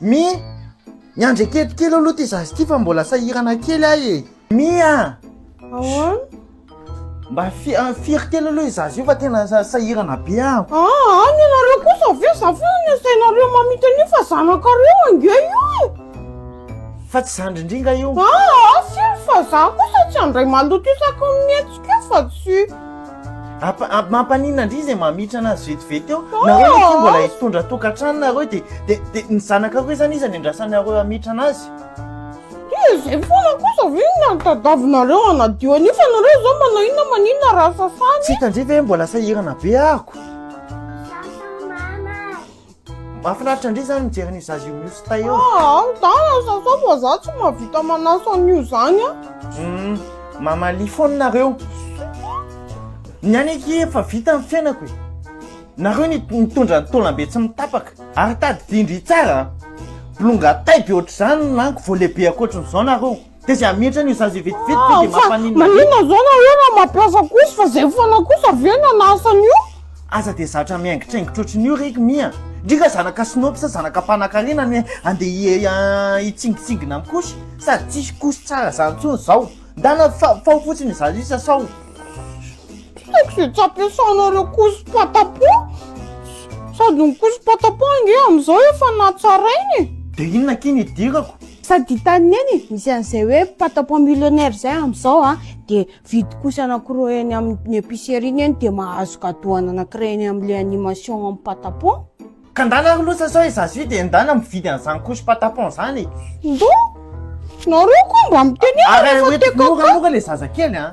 Mi, miandry aketo kely aloha ty zaza ty fa mbola sahirana kely ahy e. Mi a! Ahoana? Mba fi- ah, firy kely aloha io zaza io fa tena sa- sahirana be aho. Aa, any ianareo kosa ve za foana no asainareo mamita an'io fa zanakareo ange io e! Fa tsy zandrindringa io. Aa, firy fa za kosa tsy handray maloto isaky ny mihetsika io fa tsy. Mampaninona ndry izay mamitrana azy vetivety eo, nareo anie koa mbola hitondra tokantrano nareo dia dia ny zanakareo izany iza no iandrasanareo hamitrana azy? Dia izay foana kosa ve no nahatadavinareo hanadio an'io fa nareo izao manao inona maninona raha sasana e? Tsy hitan-dry ve hoe mbola sahirana be àako? Mahafinaritra ndry zany mijery an'io zaza io mihoso tay io. Ah, ny dala ny sasany fa za tsy mahavita manasa an'io zany an. Hum, mamalia foana nareo. Ny any aky efa vita ny fiainako e. Nareo ny mitondra ny taolambe tsy mitapaka. Ary tadidio ndry tsara an. Bolonga tay be ohatr'izany no laniko vao lehibe ankoatrin'izao nareo. Dia zay hametra an'io zaza io vetivety ve dia Fa mampaninona be? maninona zao na hoe raha mampiasa kosa fa zay foana kosa ve no anasany io? Aza dia zatra mihaingitraingitra ohatran'io re i Mia a! Ndry ka zanaka sinoa sa zanaka mpanankarena no hoe handeha hitsingitsingina amin'i Kosy? Sady tsisy Kosy tsara zany intsony izao. Ndana fa ao fotsiny i zaza io sa sao? Tiako izay tsy ampiasanareo couche patapon. Sady ny couche patapon ange amin'izao efa natsaraina e. Dia inona akia ny idirako? Sady hitan'i Neny, misy an'izay hoe patapon millionnaire izay amin'izao an, dia vidy couche anankiroa eny amin'ny épicerie Neny dia mahazo gadoany anankiray eny amin'ilay animation amin'ny patapon. Ka ndana ry loza sao izaho sy dia ndana mividy an'izany couche patapon izany e. Ndoo! Nareo koa mba mitenena fa te kakaka. Ary hoentiko moramora ilay zazakely an.